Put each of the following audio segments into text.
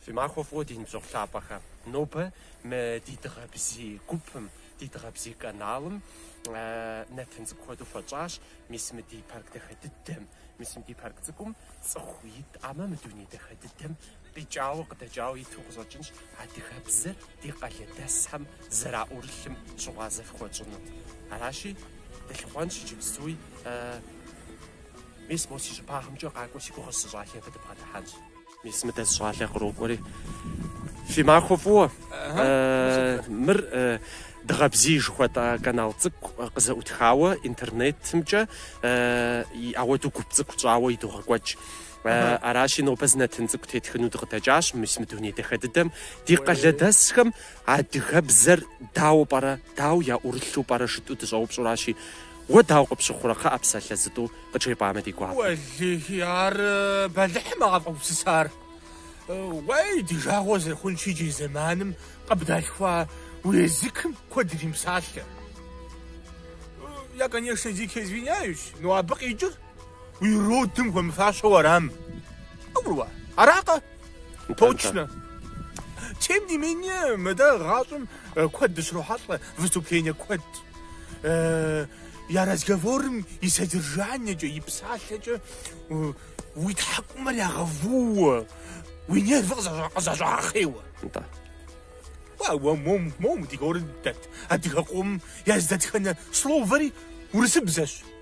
Фи махуэ фӏыуэ ди ныбжьэгъу лъапӏэхэ. Нобэ мы ди дыгъэбзий гупым, ди дыгъэбзий каналым нэтын цӏыкӏу хуэдэу хуэтщӏащ. Мис мы ди парк дахэ дыдэм, мис мы ди парк цӏыкӏум цӏыху итӏамэ, мы дуней дахэ дыдэм Къикӏауэ къыдэкӏауэ иту къыщӏэкӏынщ адыгэбзэр ди къалэдэсхэм зэраӏурылъым щыгъуазэ фыхуэтщӏыну. Аращи, дылъыхъуэнщ иджыпстуи. Мис мо си щӏыбагъымкӏэ къакӏуэ си гугъэщ зы щӏалэ, абы дыбгъэдыхьэнщ. Мис мыдэ зы щӏалэ кърокӏуэри. Фи махуэ фӏыуэ. Мыр Дыгъэбзий жыхуэтӏэ канал цӏыкӏу къызэӏутхауэ интернетымкӏэ и ауэду гуп цӏыкӏу тщӏауэ идогъэкӏуэкӏ. Э, аращи, нобэ зы нэтын цӏыкӏу тетхыну дыкъыдэкӏащ мис мы дуней дахэ дыдэм. Ди къалэдэсхэм адыгэбзэр дауэ пӏэрэ, дау яӏурылъу пӏэрэ жытӏу дыщӏэупщӏуращи, уэ дауэ къыпщыхъурэ, кхъыӏэ, псалъэ зытӏу къыджепӏамэ ди гуапэ. Уэллихи, ар э, бэлыхьым а къэвгупсысар. Э, Уей, ди жагъуэ зэрыхъунщи иджы зэманым къыбдалъхуа уи языкым куэд иримыпсалъэ. Э, Я, конечно, дико извиняюсь, но абы къикӏыр Уи родым хуэмыфащэу арам? Къыбгурыӏуа, аракъэ? Точно. Тем не менее, мы дэ гъащӏэм э, куэд дыщрохьэлӏэ, выступление куэд. Э, я разговорым и содержаниекӏэ, и псалъэкӏэ э, уи тхьэкӏумэр ягъэвууэ, уи нервыр къызэщӏа- къызэщӏагъэхъейуэ. Нтӏэ. Уа, уэ мом, мом, ди горым дэт адыгэ къом я зы дэтхэнэ словэри урысыбзэщ.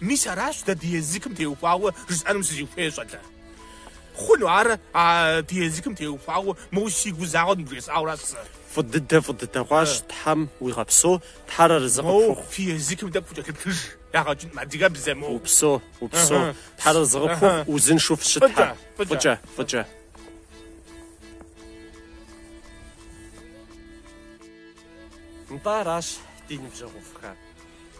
Мис аращ дэ ди языкым теухуауэ жысӏэнум сызыхуейр, щӏалэ. Хъуну ар а ди языкым теухуауэ моуэ сигу загъэу ныбжесӏауэра сэ? Фӏы дыдэ, фӏы дыдэ хъуащ, Тхьэм уигъэпсо, Тхьэр арызы къыпхухъу. Моу фи языкым тӏэкӏу фыкӏэлъыплъыж, ягъэкӏынкъым адыгэбзэ моу. Упсо, упсо, Тхьэр арызы къыпхухъу, узыншэу фыщытхэ. Фӏыкӏэ, фӏыкӏэ. Нтӏэ, аращ ди ныбжьэгъуфӏхэр.